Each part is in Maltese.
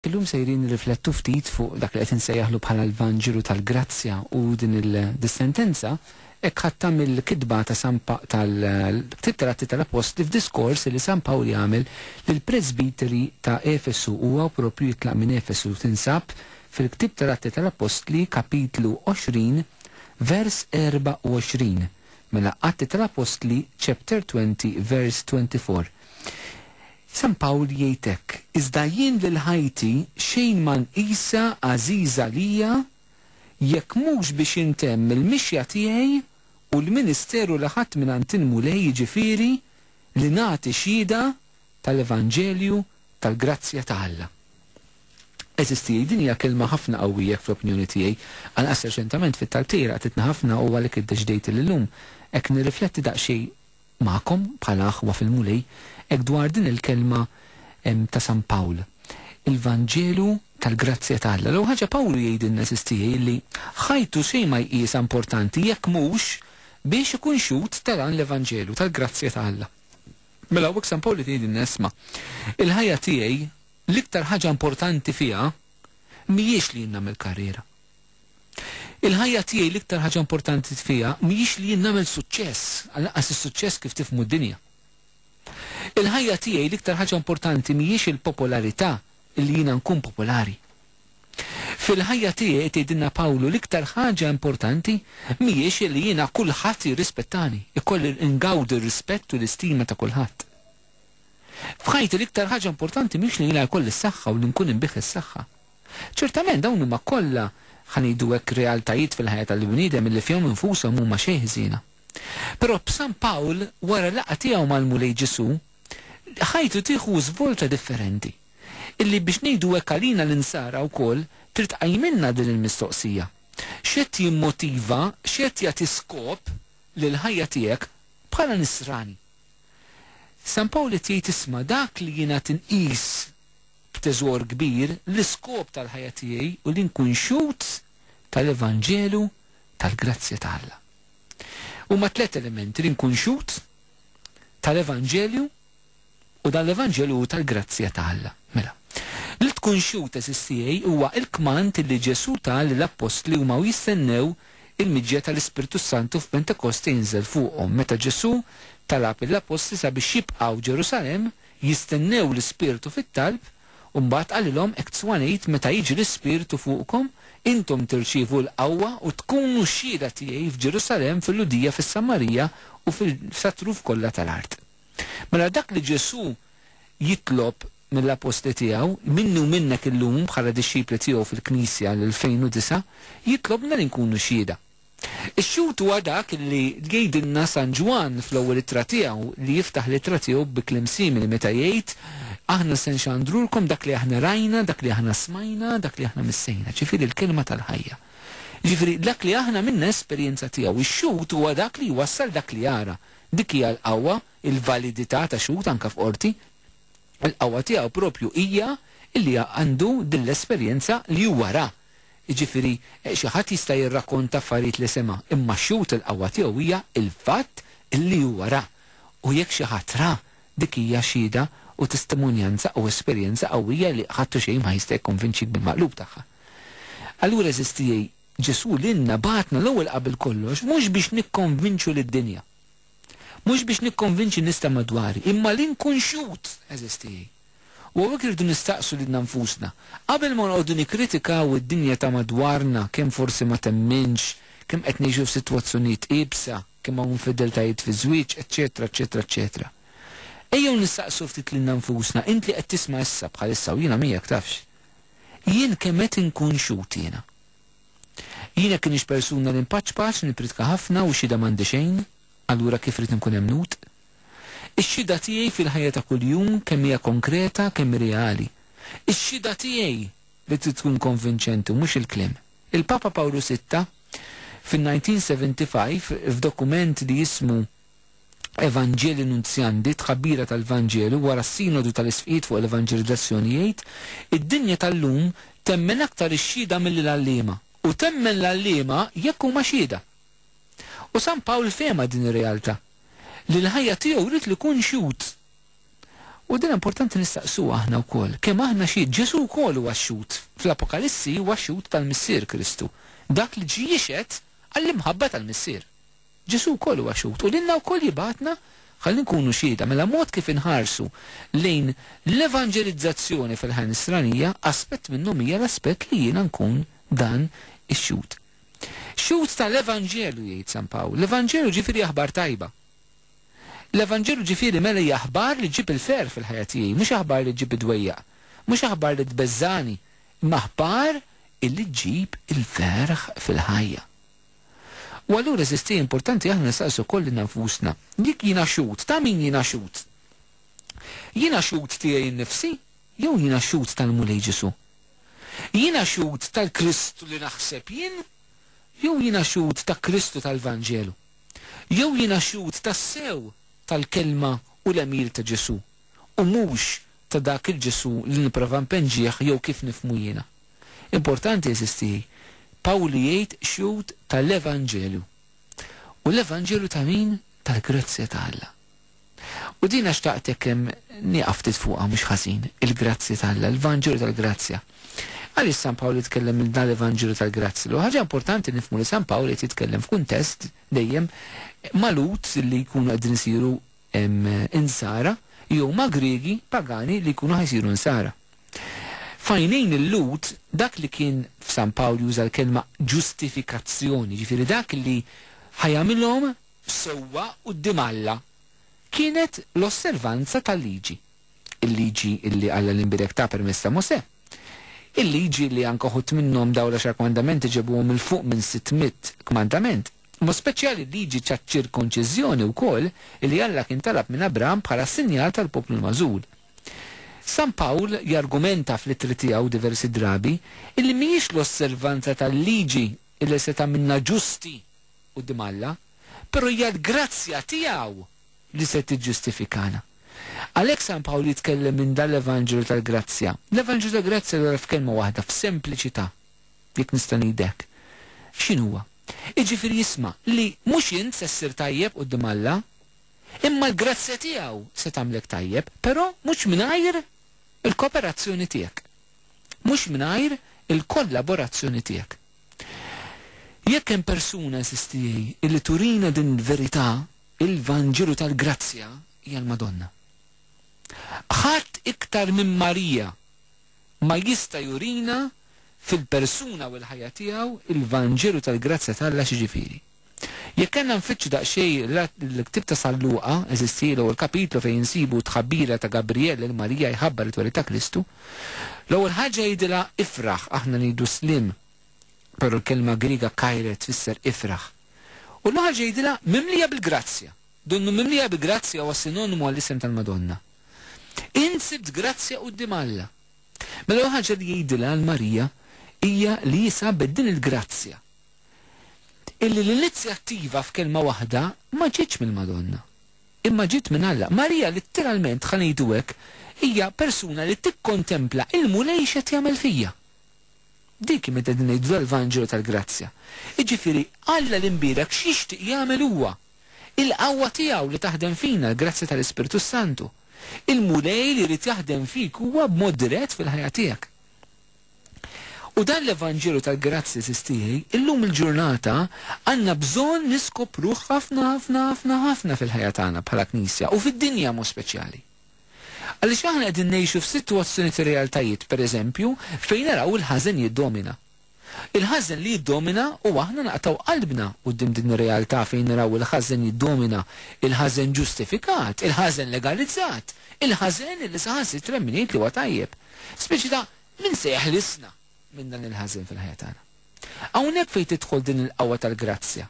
Illum sejrin nirriflettu ftit fuq dak li qed insejjaħlu bħala l-Vanġelu tal-Grazzja u din il-dissentenza hekk ħadtha mill-kitba ta' San Pa tal-Ktieb tal-Atti tal-Appostli f'diskors li San Pawl jagħmel lill-presbiteri ta' Efesu u hawn proprju jitlaq minn Efesu tinsab fil-Ktieb tal-Atti tal-Appostli kapitlu 20 vers 24 mela Atti tal-Appostli chapter 20 verse 24 San Pawl jgħid hekk, Iżda jien lil ħajti xejn ma nqisha għażiża għalija jekk mhux biex intemm il-mixja tiegħi u l-ministeru li ħadt mingħand il-Mulej jiġifieri li nagħti xhieda tal-evanġelju tal-grazzja ta' Alla. Għeżież tiegħi, din hija kelma ħafna qawwijek fl-opinjoni tiegħi. Anqas reċentament fit-talb tiegħi laqtitni ħafna u għalhekk iddeċidejt li llum hekk nirrifletti daqsxejn Magħkom bħala aħwa fil-Mulej, hekk dwar din il-kelma ta' San Pawl, il-Vanġelu tal-grazzja ta' Alla. L-ewwel ħaġa Pawlu jgħidilna għażiż tiegħi illi ħajtu xejn ma jqisha importanti jekk mhux biex ikun xhud ta' dan l-Evanġelu tal-grazzja ta' Alla. Mela hawnhekk San Pawl qed jgħidilna isma', il-ħajja tiegħi l-iktar ħaġa importanti fiha mhijiex li jien nagħmel karriera. Il-ħajja tiegħi l-iktar ħaġa importanti fiha mhijiex li jien nagħmel suċċess, għal lanqas is-suċċess kif tifhmu d-dinja. Il-ħajja tiegħi l-iktar ħaġa importanti mhijiex il-popolarità, li jiena nkun popolari. Fil-ħajja tiegħi, qed jgħidilna Pawlu, l-iktar ħaġa importanti mhijiex li jiena kulħadd jirrispettani, ikolli ngawdi r-rispett u l-istima ta' kulħadd. F'ħajti l-iktar ħaġa importanti mhix li jiena jkolli s-saħħa u li nkun inbigħ is-saħħa. Ċertament dawn huma kollha, ħa ngħidu hekk, realtajiet fil-ħajja tal-bniedem illi fihom infushom huma xejn ħżiena. Però b'San Pawl, wara laqgħa tiegħu mal-Mulej Ġesù, ħajtu tieħu żvolta differenti, illi biex ngħidu hekk għalina l-Insara wkoll trid tqajjmilna din il-mistoqsija, X'qed jimmotiva, x'qed jagħti skop lill-ħajja tiegħek bħala Nisrani? San Pawl qed jgħid isma' dak li jien għad inqis b'teżor kbir l-iskop tal-ħajja tiegħi u li nkun xhud tal-evanġelu tal-grazzja ta' Alla. Huma tliet elementi li nkun xhud tal-evanġelju u dan l-evanġelju hu tal-grazzja ta' Alla. Mela, li tkun xhud għeżież tiegħi huwa l-kmand li Ġesù ta lill-appostli huma u jistennew il-miġja tal-Ispirtu s-Santu f'Pentekoste jinżel fuqhom. Meta Ġesù talab lill-appostli sabiex jibqgħu Ġerusalemm Jistennew l-Ispirtu fit-talb, u mbagħad qalilhom, Hekk Zwan għid, meta jiġi l-Ispirtu fuqkom, intom tirċievu l-qawwa u tkunu xhieda tiegħi f'Ġerusalemm, fil-Lhudija, fis-Samarija u sat-truf kollha tal-art. Mela dak li Ġesù jitlob mill-Appostli tiegħu, minni u minnek illum bħala dixxipli tiegħu fil-Knisja l-2009, jitlobna li nkunu xhieda. Ix-xhud huwa dak li jgidilna San Ġwann fl-ewwel ittra tiegħu, li jiftaħ l-ittra tiegħu bi kliem simili meta jgħid, Aħna se nxandrulkom dak li aħna rajna, dak li aħna smajna, dak li aħna missejna, ġifieri l-Kelma tal-Ħajja. Jiġifieri dak li aħna għamilna esperjenza tiegħu. Ix-xhud huwa dak li jwassal dak li jara. Dik hija l-qawwa, il-validità ta' xhud anke f'qorti. Il-qawwa tiegħu proprju hija li għandu din l-esperjenza li huwa ra. Jiġifieri, xi ħadd jista' jirrakkonta affarijiet li sema', imma x-xhud il-qawwa tiegħu hija l-fatt li huwa ra. U jekk xi ħadd ra, dik hija xhieda u testimonjanza u esperjenza qawwija li ħadd u xejn ma jista' jikkonvinċik bil-maqlub tagħha. Allura għeżież tiegħi, Ġesù lilna bagħatna l-ewwel qabel kollox mhux biex nikkonvinċu lid-dinja. Mhux biex nikkonvinċi n-nies ta' madwari, imma li nkun xhud, għeżież tiegħi. U hawnhekk irridu nistaqsu lilna nfusna, qabel ma nqogħdu nikkritikaw id-dinja ta' madwarna, kemm forsi ma temminx, kemm qed ngħixu f'sitwazzjonijiet iebsa, kemm hawn infedeltajiet fiż-żwieġ, eċċetera, eċċetera, eċċetera. Ejjew nistaqsu ftit lilna nfusna, int li qed tisma' issa, bħalissa, u jiena miegħek, tafx. Jien kemm qed inkun xhud jiena? Jien jekk inix persuna li npaċpaċ, nippritka ħafna u xhieda m'għandi xejn, allura kif rrid inkun emmnut? Ix-xhieda tiegħi fil-ħajja ta' kuljum kemm hija konkreta, kemm hi reali. Ix-xhieda tiegħi li trid tkun konvinċenti u mhux il-kliem. Il-Papa Pawlu Sitta fin-1975 f'dokument li jismu Evangelii Nuntiandi, Tħabbira tal-Vanġelu, wara s-Sinodu tal-Isqfijiet fuq l-Evanġelizzazzjoni jgħid, Id-dinja tal-lum temmen aktar ix-xhieda milli l-għalliema, u temmen l-għalliema jekk huma xhieda. U San Pawl fehemha din ir-realtà, li l-ħajja tiegħu ried li jkun xhud. U din importanti nistaqsuha aħna wkoll, kemm aħna xhied? Ġesù wkoll huwa xhud, fl-Apokalissi huwa xhud tal-Missier Kristu, dak li ġie jixhed għall-imħabba tal-Missier. Ġesù wkoll huwa xhud u lilna wkoll jibgħatna ħalli nkunu xhieda. Mela mod kif inħarsu lejn l-evanġelizzazzjoni fil-ħajja nisranija, aspett minnhom hija l-aspett li jiena nkun dan ix-xhud. Xhud tal-evanġelu jgħid San Pawl. L-evanġelu ġifieri aħbar tajba. L-evanġelu ġifieri mela hija aħbar li ġġib il-ferħ fil-ħajja tiegħi, mhux aħbar li ġġib id-dwejjaq, mhux aħbar li tbeżżagħni, imma aħbar illi ġġib il-ferħ fil-ħajja. U allura eżisti importanti aħna nsaqsu wkoll lilna nfusna, jekk jiena xhud, ta' min jiena xhud? Jiena xhud tiegħi nnifsi jew jiena xhud tal-Mulej Ġesù? Jiena xhud tal-Kristu li naħseb jien jew jiena xhud ta' Kristu tal-Vanġelu? Jew jiena xhud tassew tal-kelma u l-għemil ta' Ġesù u mhux ta' dak il-Ġesù li nipprova npenġih jew kif nifhmu jiena? Importanti, għeżież tiegħi, Pawlu jgħid xhud ta' l-evanġelju. U l-evanġelju ta' min? Tal-grazzja ta' Alla. U dina xtaqt hekk nieqaf ftit fuqha mhux ħażin, il-grazzja ta' Alla, l-vanġelu tal-grazzja. Għaliex San Pawl jitkellem minn dan l-evanġelju tal-grazzja? L-ewwel ħaġa importanti nifhmu li San Pawl qed jitkellem f'kuntest dejjem magħlut li jkunu qegħdin isiru Insara li huma Griegi pagani li jkunu ħa jsiru Nsara. F'għajnejn il-Lhud, dak li kien, f'San Pawl juża l-kelma ġustifikazzjoni, jiġifieri dak li ħa jagħmilhom sewwa quddiem Alla, kienet l-osservanza tal-Liġi, il-Liġi li Alla l-Imbierek ta permezz ta' Mosè, il-Liġi li anke uħud minnhom dawn l-Għaxar Kmandamenti ġebuhom 'il fuq minn sitt mitt kmandament. B'mod speċjali l-liġi taċ-ċirkonċiżjoni wkoll li Alla kien talab minn Abraham bħala sinjal tal-poplu l-magħżul. San Pawl jargumenta fl-ittri tiegħu diversi drabi illi mhijiex l-osservanza tal-liġi illi se tagħmilna ġusti quddiem Alla, però hija l-grazzja tiegħu li se tiġġustifikana. Għalhekk San Pawl jitkellem minn dan l-evanġelu tal-grazzja. L-evanġelu tal-grazzja allura f'kelma waħda, f'sempliċità. Jekk nista' ngħid hekk. X'inhu huwa? Jiġifieri isma' li mhux int se ssir tajjeb quddiem Alla, imma l-grazzja tiegħu se tagħmlek tajjeb, però mhux mingħajr il-koperazzjoni tiegħek. Mhux mingħajr il-kollaborazzjoni tiegħek. Jekk hemm persuna, insistijej, illi turina din il-verità, il-Vanġelu tal-grazzja, hija l-Madonna. Ħadd iktar minn Marija! ma jista' jurina fil-persuna u l-ħajja tiegħu l-Vanġelu tal-grazzja t'Alla xi ġifieri. Jekk kellna nfittxu daqsxejn l-ktieb ta' San Luqa, eżisti, l-ewwel kapitlu fejn insibu t-tħabbira ta' Gabrijel lil Marija jħabbar it-twelid ta' Kristu, l-ewwel ħaġa jgħidilha ifraħ, aħna ngħidu sliem, però l-kelma Griega kaire tfisser ifraħ. U l-ewwel ħaġa jgħidilha mimlija bil-grazzja. Donnu mimlija bi grazzja huwa sinonimu għall-isem tal-Madonna. Int sibt grazzja quddiem Alla. Mela ħaġa li jgħidilha għal Marija hija li hi sabet din il-grazzja. Illi l-inizjattiva f'kelma waħda ma ġietx mill-Madonna. Imma ġiet minn Alla. Marija litteralment, ħa ngħidu hekk, hija persuna li tikkontempla il-Mulej x'qed jagħmel fija. Dik hi meta qegħdin ngħidu tal-Vanġelu tal-Grazzja. Jiġifieri Alla l-Imbierek x'jixtieq jagħmel huwa. Il-qawwa tiegħu li taħdem fina, l-grazzja tal-Ispirtu s-Santu. Il-Mulej li jrid jaħdem fik huwa b'mod dirett fil-ħajja tiegħek. U dan l-evanġelu tal-grazzja żiż tiegħi, illum il-ġurnata għandna bżonn niskopruh ħafna ħafna ħafna ħafna fil-ħajja tagħna bħala Knisja u fid-dinja mod speċjali. Għaliex aħna qegħdin ngħixu f'sitwazzjoni ta' realtajiet, pereżempju, fejn naraw il-ħażen jiddomina. Il-ħażen li jiddomina u aħna naqtgħu qalbna quddiem din ir-realtà fejn naraw il-ħażen jiddomina, il-ħażen ġustifikat, il-ħażen legalizzat, il-ħażen li saħansitra min jgħid li huwa tajjeb. Speċi ta' min se jeħlisna minn dan il-ħażen fil-ħajja tagħna? Hawnhekk fejn tidħol din il-qawwa tal-grazzja.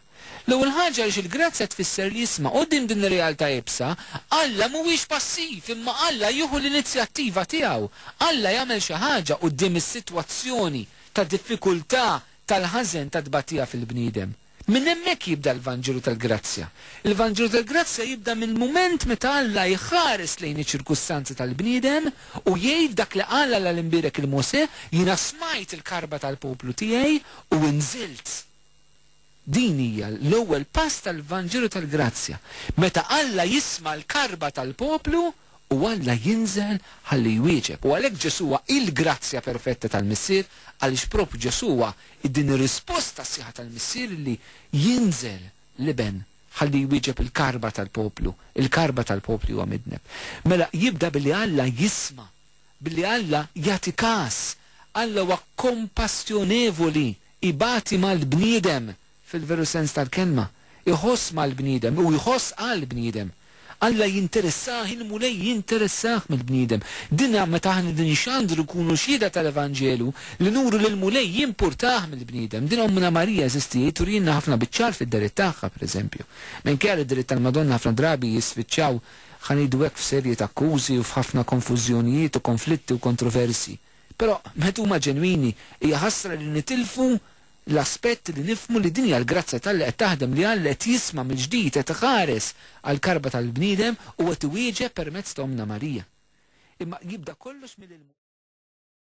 L-ewwel ħaġa għaliex il-grazzja tfisser l-isma'. Quddiem din ir-realtà iebsa, Alla mhuwiex passiv imma Alla jieħu l-inizjattiva tiegħu. Alla jagħmel xi ħaġa quddiem is-sitwazzjoni ta' diffikultà, tal-ħażen, tat-tbatija fil-bniedem. Minn hemmhekk jibda l-Vanġelu tal-grazzja. Il-Vanġelu tal-grazzja jibda mill-mument meta Alla jħares lejn iċ-ċirkustanzi tal-bniedem u jgħid dak li qal Alla l-imbierek lil Mosè, Jiena smajt il-karba tal-poplu tiegħi u nżilt. Din hija l-ewwel pass tal-Vanġelu tal-grazzja, meta Alla jisma' l-karba tal-poplu u Alla jinżel ħalli jwieġeb. U għalhekk Ġesù huwa il-grazzja perfetta tal-Missier, għaliex propju Ġesù huwa din ir-risposta sħiħa tal-Missier illi jinżel l-Iben ħalli jwieġeb il-karba tal-poplu, il-karba tal-poplu li huwa midneb. Mela jibda billi Alla jisma', billi Alla jagħti kas. Alla huwa kompassjonevoli, Ibati mal-bniedem, fil-veru sens tal-kelma. Iħoss mal-bniedem u jħoss għall-bniedem. Alla jinteressah, il-Mulej jinteressah mill-bniedem. Din hija meta aħna qegħdin inxandru nkunu xhieda tal-Evanġelu li nuru li l-Mulej jimpurtah mill-bniedem. Din Ommna Marija eżistiet turielna ħafna biċ-ċar fid-dehriet tagħha, pereżempju. Minkejja li d-dehriet tal-Madonna ħafna drabi jispiċċaw, ħa ngħidu hekk, f'serje t'akkużi u f'ħafna konfużjonijiet u konflitti u kontroversji, Però, meta huma ġenwini, hija ħasra li nitilfu l-aspett li nifhmu li din hija l-grazzja t'Alla qed taħdem, li Alla qed jisma' mill-ġdid, qed iħares għall-karba tal-bniedem u qed iwieġeb permezz ta' Ommna Marija. Imma jibda kollox mill-ilmu.